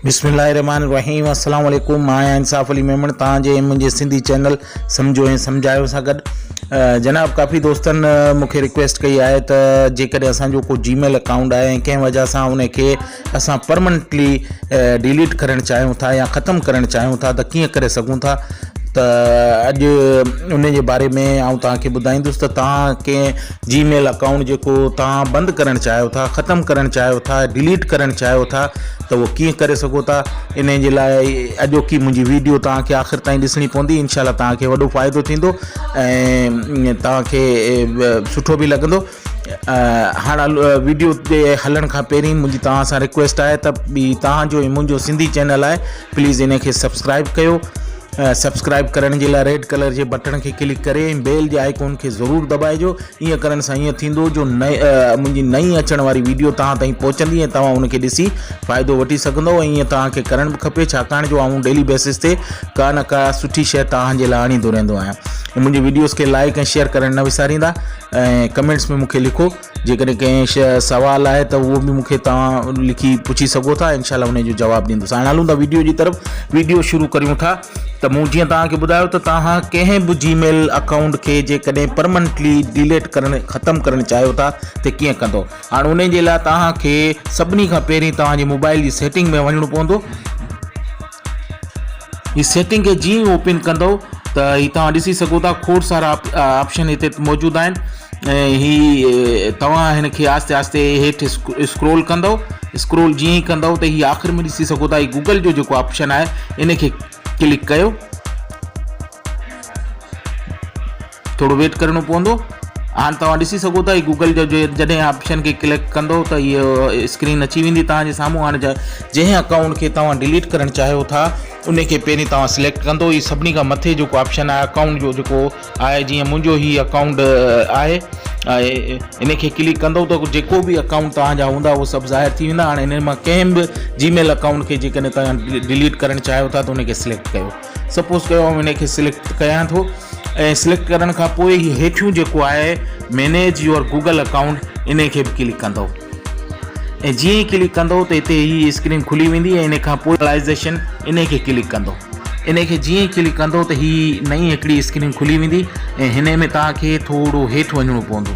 بسم الله الرحمن الرحيم السلام عليڪم مان آهيان انصاف علي ميمڻ تان جي منهنجي سنڌي چينل سمجھو ۽ سمجھايو سان گڏ جناب ڪافي دوستن مونکي رڪويسٽ ڪئي آهي ته جيڪڏهن اسانجو ڪو جي ميل اڪائونٽ آهي ڪنهن وجھه سان ان کي اسان پرمنٽلي ڊيليٽ ڪرڻ چاهيون ٿا يا ختم ڪرڻ چاهيون ٿا ته ڪيئن ڪري سگهون ٿا ته اڄ ان جي باري ۾ آئون تان کي ٻڌائيندس ته تان کي جي ميل اڪائونٽ جيڪو تان بند ڪرڻ چاهيو ٿا ختم ڪرڻ چاهيو ٿا ڊيليٽ ڪرڻ چاهيو ٿا ته اهو ڪيئن ڪري سگهو ٿا ان جي لاء اڄوڪي منهنجي ويڊيو تان کي آخر تائين ڏسڻي پوندي انشاء الله تان کي وڏو فائدو ٿيندو ۽ تان کي سٺو به لڳندو هاڻ ويڊيو تي هلڻ کان پهرين منهنجي توهان سان رڪويسٽ آهي ته توهان جو منهنجو سنڌي چينل آهي پليز ان کي سبسڪرائب ڪيو سبسڪرائب ڪرڻ جي لاء ريڊ ڪلر جي بٽڻ کي ڪلڪ ڪري ۽ بيل جي آئڪون کي ضرور دٻائجو ائين ڪرڻ سان ائين ٿيندو جو نئي منهنجي نئي اچڻ واري ويڊيو توهان تائين پهچندي ۽ توهان ان کي ڏسي فائدو وٺي سگھندو ۽ ائين توهان کي ڪرڻ به کپي ڇاڪاڻ جو آئون ڊيلي بيسس تي ڪا نه ڪا سٺي شيء توهان جي لاء آڻيندو رهندو آهيان منهنجي ويڊيوز کي لائڪ ۽ شيئر ڪرڻ نه وساريندا ۽ ڪمينٽس ۾ مونکي لکو جيڪڏهن ڪنهن شي سوال آهي ته اهو به مونکي توهان لکي پڇي سگهو ٿا انشاء الله ان جو جواب ڏيندس هاڻ هلون ٿا ويڊيو جي طرف ويڊيو شروع ڪريون ٿا ته مون جيئن توهانکي ٻڌايو ته توهان ڪنهن به جي ميل اڪائونٽ کي جيڪڏهن پرمننٽلي ڊيليٽ ڪرڻ ختم ڪرڻ چاهيو ٿا ته ڪيئن ڪندو هاڻ ان جي لاء توهانکي سڀني کان پهرين توهان جي موبائل جي سيٽنگ ۾ وڃڻو پوندو هي سيٽنگ کي جيئن ئي اوپن ڪندو ته هي توهان ڏسي سگهو ٿا کوڙ سارا آپشن هتي موجود آهن ۽ هي توهان هن کي آهستي آهستي هيٺ اسڪرول ڪندو اسڪرول جيئن ئي ڪندو ته هي آخر ۾ ڏسي سگهو ٿا هي گوگل جو جيڪو آپشن آهي ان کي ڪلڪ ڪيو ٿورو ويٽ ڪرڻو پوندو هاڻ توهان ڏسي سگهو ٿا هي گوگل جو جڏهن آپشن کي ڪلڪ ڪندو ته هي اسڪرين اچي ويندي توهان جي سامهون هاڻ جنهن اڪائونٽ کي توهان ڊيليٽ ڪرڻ چاهيو ٿا ان کي پهرين توهان سليڪٽ ڪندو هي سڀني کان مٿي جيڪو آپشن آهي اڪائونٽ جو جيڪو آهي جيئن منهنجو هي اڪائونٽ آهي ان کي ڪلڪ ڪندو ته جيڪو بي اڪائونٽ توهان جا هوندا اهو سڀ ظاهر ٿي ويندا هاڻ ان مان ڪنهن به جي ميل اڪائونٽ کي جيڪڏهن توهان ڊيليٽ ڪرڻ چاهيو ٿا ته ان کي سليڪٽ ڪيو سپوز ڪيو آئون هن کي سليڪٽ ڪيان ٿو ۽ سليڪٽ ڪرڻ کان پوء هي هيٺيون جيڪو آهي مينيج يور گوگل اڪائونٽ ان کي به ڪلڪ ڪندو ۽ جيئن ئي ڪلڪ ڪندو ته هتي هي اسڪرين کلي ويندي ۽ ان کان پوء لائزيشن ان کي ڪلڪ ڪندو ان کي جيئن ئي ڪلڪ ڪندو ته هي نئين هڪڙي اسڪرين کلي ويندي ۽ هن ۾ توهان کي ٿورو هيٺ وڃڻو پوندو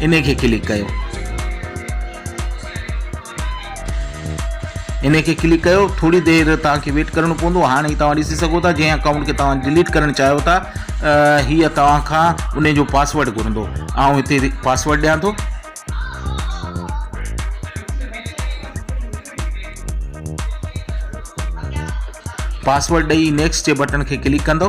انهي کي ڪلڪ ڪيو. انهي کي ڪلڪ ڪيو ٿوري دير توهان کي ويٽ ڪرڻو پوندو هاڻي هي توهان ڏسي سگهو ٿا جنهن اڪائونٽ کي توهان ڊليٽ ڪرڻ چاهيو ٿا هي توهان کان انهي جو پاسورڊ گهرندو آئون هتي پاسورڊ ڏيان ٿو پاسورڊ ڏئي نيڪسٽ جي بٽڻ کي ڪلڪ ڪندو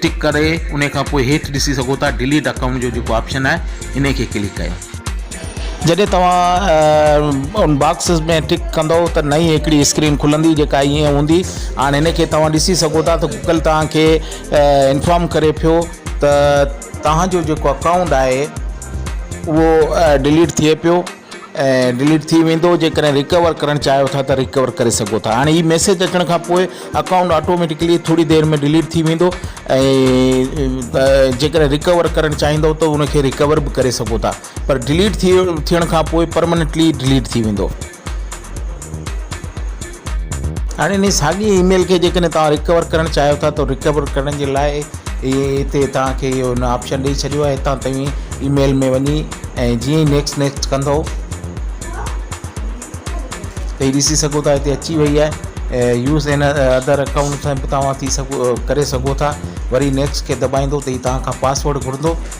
ٽڪ ڪري انهي کان پوء هيٺ ڏسي سگهو ٿا ڊيليٽ اڪائونٽ جو جيڪو آپشن آهي انهي کي ڪلڪ ڪيو. جڏهن توهان ان باڪس ۾ ٽڪ ڪندؤ ته نئين هڪڙي اسڪرين کلندي جيڪا ائين هوندي هاڻ هن کي توهان ڏسي سگهو ٿا ته گوگل توهان کي انفارم ڪري پيو ته توهان جو جيڪو اڪائونٽ آهي اهو ڊيليٽ ٿئي پيو. ۽ ڊليٽ ٿي ويندو جيڪڏهن ريڪور ڪرڻ چاهيو ٿا ته ريڪور ڪري سگهو ٿا هاڻي هي ميسيج اچڻ کان پوء اڪائونٽ آٽوميٽڪلي ٿوري دير ۾ ڊليٽ ٿي ويندو ۽ جيڪڏهن ريڪور ڪرڻ چاهيندو ته ان کي ريڪور به ڪري سگهو ٿا پر ڊليٽ ٿي ٿيڻ کان پوء پرماننٽلي ڊليٽ ٿي ويندو هاڻي انهي ساڳي اي ميل کي جيڪڏهن توهان ريڪور ڪرڻ چاهيو ٿا ته ريڪور ڪرڻ جي لاء هتي توهان کي اهو ان آپشن ڏئي ڇڏيو آهي هتان توهين اي ميل ۾ وڃي ۽ جيئن ئي نيڪسٽ نيڪسٽ ڪندو ته هي ڏسي سگهو ٿا هتي اچي وئي آهي يوز ان ادر اڪائونٽ سان به توهان ٿي سگهو ڪري سگهو ٿا وري نيڪسٽ کي دٻائيندو ته هي توهان کان پاسورڊ گهرندو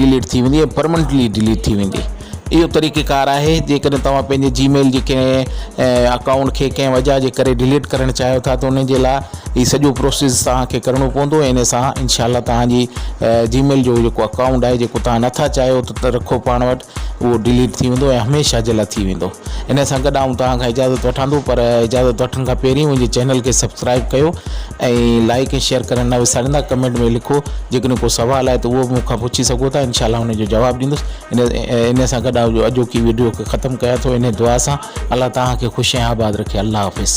ڊيليٽ ٿي ويندي ۽ پرمنٽلي ڊيليٽ ٿي ويندي اهو طريقي ڪار آهي جيڪڏهن توهان پنهنجي جي ميل جي ڪنهن اڪائونٽ کي ڪنهن وجهه جي ڪري ڊيليٽ ڪرڻ چاهيو ٿا ته ان جي لاء هي سڄو پروسيس تهانکي ڪرڻو پوندو ۽ ان سان انشاء الله تهانجي جي ميل جو جيڪو اڪائونٽ آهي جيڪو تهان نٿا چاهيو ته رکو پاڻ وٽ اهو ڊيليٽ ٿي ويندو ۽ هميشه جي لا ٿي ويندو ان سان گڏ آئون توهان کان اجازت وٺان ٿو پر اجازت وٺڻ کان پهرين منهنجي چينل کي سبسڪرائب ڪيو ۽ لائڪ ۽ شيئر ڪرڻ نه وساريندا ڪمينٽ ۾ لکو جيڪڏهن ڪو سوال آهي ته اهو به مون کان پڇي سگهو ٿا انشاء الله ان جو جواب ڏيندس ان ان سان گڏ آئون اڄوڪي ويڊيو کي ختم ڪيان ٿو ان دعا سان الله توهان کي خوش ۽ آباد رکي الله حافظ